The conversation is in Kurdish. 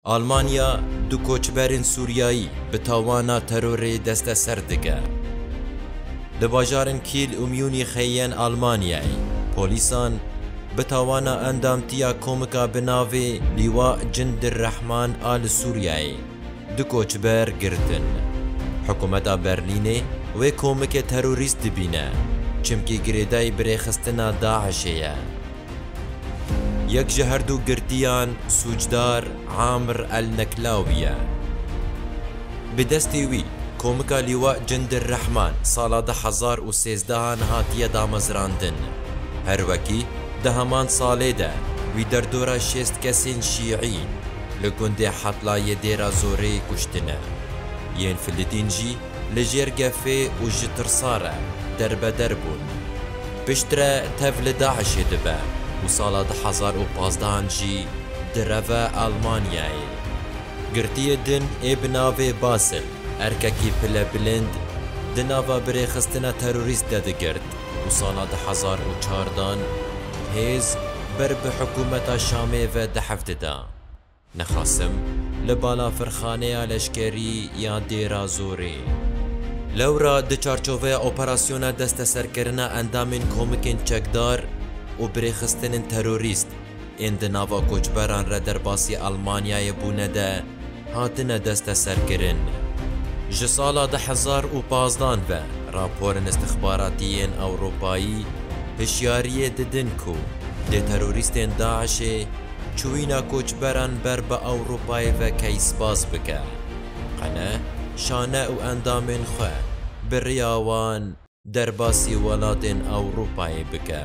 Almanya du koçberên Sûriyayî bi tawana terorê desteser dike. Di bajarên Kîl û Mûnîxê yên Almanyayê polîsan bi tawana endamtiya komika bi navê Lîwa Cindirrehman a li Sûriyeyê du koçber girtin. Hikûmeta Berlînê wê komikê terorîst dibîne, çimkî girêdayî birêxistina DAIŞ'ê ye. Yek ji her du girtiyan sûcdar Amr El Neklawi ye. Bi destê wî Komika Lîwa Cindir Rehman sala du hezar û sêzdeh an hatiye damezrandin. Her wekî di heman salê de wî derdora şêst kesên Şîî li gundê Hetlayê Dêra Zoreyê kuştine. Yên Filidîn jî li jêr gefê û ji tirsa re derbeder bûn. Piştre tev li DAIŞ'ê dibe û sala du hezar û pazdeh-an jî direve Almanyayê. Girtiyê din ê bi navê Basil, erkekî pile bilind, di nava birêxistina terorîst de digirt û sala du hezar û çar dan hêz ber bi hikûmeta Şamê ve dehf dida. Nixasim li balafirxaneya leşkerî ya Dêra Zorê. Lewra di çarçoveya operasyona desteserkirina endamên komikên çekdar û birêxistinên terorîst ên di nava koçberan re derbasî Elmanyayê bûne de hatine desteserkirin. Ji sala du hezar û pazdan ve raporên îstixbaratî yên Ewropayî hişyariyê didin ku dê terorîstên DAIŞ'ê, Çûyîna koçberan ber bi Ewropayê ve keysbaz bike. Qene, şane û endamên xwe bi riya wan derbasî welatên Ewropayê bike.